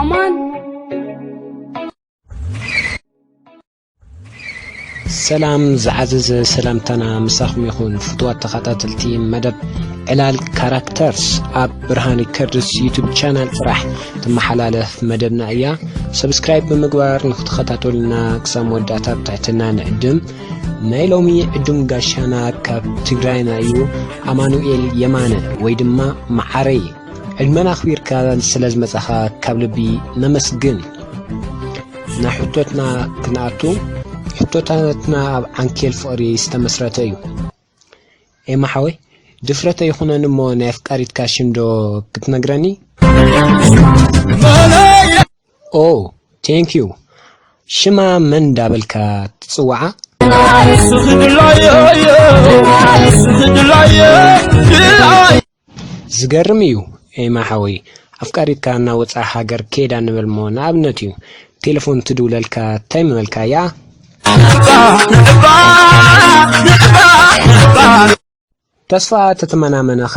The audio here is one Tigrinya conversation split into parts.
አማን ሰላም ዝዓዘዘ ሰላምታና ምሳኹም ይኹን ፍትዋት ተኸታተልቲ መደብ ዕላል ካራክተርስ ኣብ ብርሃን ከርድስ ዩቱብ ቻናል ጥራሕ ትመሓላለፍ መደብና እያ ሰብስክራይብ ብምግባር ንክትኸታተሉና ክሳብ መወዳእታ ብትሕትና ንዕድም ናይ ሎሚ ዕዱም ጋሻና ካብ ትግራይና እዩ ኣማኑኤል የማነ ወይ ድማ መዓረይ ዕድመን ኣኽቢርካ ስለ ዝመጻኻ ካብ ልቢ ነመስግን ናብ ሕቶትና ክንኣቱ ሕቶታትና ኣብ ዓንኬል ፍቕሪ ዝተመስረተ እዩ ኤማ ሓወይ ድፍረት ኣይኹነን እሞ ናይ ኣፍቃሪትካ ሽም ዶ ክትነግረኒ? ኦ ቴንክ ዩ ሽማ መን እንዳበልካ ትጽውዓ? ስኽድላየ ስኽድላየ ዝገርም እዩ ኤማ ሓወይ ኣፍቃሪትካ ናብ ወጻኢ ሃገር ኬዳ ንበልሞ ንኣብነት እዩ ቴለፎን ትድውለልካ ታይ ምበልካያ። ተስፋ ተተመናመነ ኸ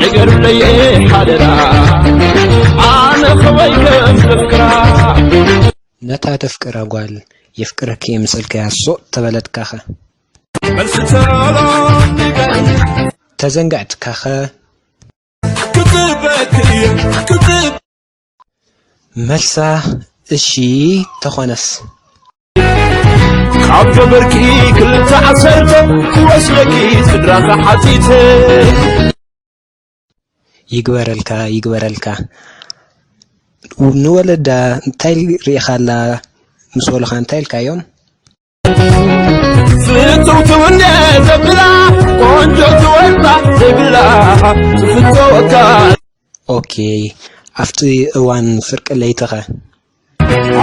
ንገሩለየ ሓደራ ኣነ ከወይ ከም ዘፍቅራ ነታ ተፍቅራ ጓል የፍቅረኪ እየ ምስ በልካያ ሶቕ ተበለትካኸ መልሲ ተሎ ንገር ተዘንጋዕትካኸ ክፅበክ እየ ክፅበ መልሳ እሺ ተኾነስ ካብ ጀበርኪ ክልተ ዓሰርተ ክወስደኪ ስድራ ተሓቲተ ይግበረልካ ይግበረልካ ንወለዳ እንታይ ሪኢኻላ ምስ በሉኻ እንታይ ኢልካዮም? ፍትውቱ እንደ ዘብላ ቆንጆ ትወጣ ዘይብላ ትፍትወካ ኦኬ ኣብቲ እዋን ፍርቂ ለይትኸ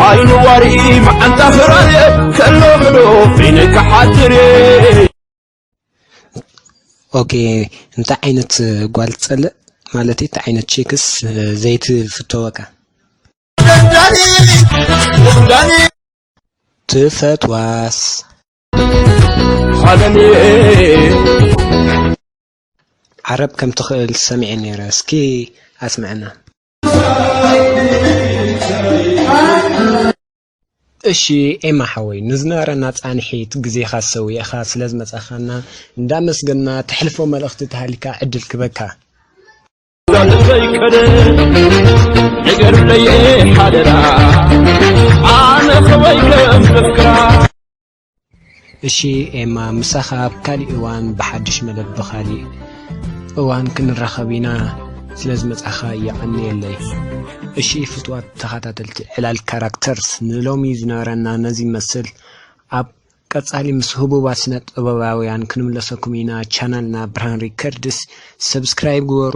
ዓይኑ ዋሪ መዓንታ ፍራየ ከሎ ብሎ ፊንካ ሓድር ኦኬ እንታይ ዓይነት ጓል ትጸልእ ማለት እቲ ዓይነት ቼክስ ዘይትፍተወካ ዳኒ ዳኒ ትፈትዋስ። ዓረብ ከም ትኽእል ሰሚዐ ነይረ እስኪ ኣስምዐና። እሺ ኤማ ሓወይ ንዝነበረና ፃንሒት ግዜኻ ሰዊእኻ ስለ ዝመፃኻና እንዳመስገና ተሕልፎ መልእኽቲ ተሃሊካ ዕድል ክበካ እሺ ኤማ ምሳኻ ኣብ ካሊእ እዋን ብሓድሽ መደብ ብኻሊእ እዋን ክንራኸብ ኢና ስለ ዝመጻኻ የቐንየለይ እሺ ፍትዋት ተኸታተልቲ ዕላል ካራክተርስ ንሎሚ ዝነበረና ነዚ መስል ኣብ ቀጻሊ ምስ ህቡባት ስነ ጥበባውያን ክንምለሰኩም ኢና ቻናልና ብርሃን ሪከርድስ ሰብስክራይብ ግበሩ።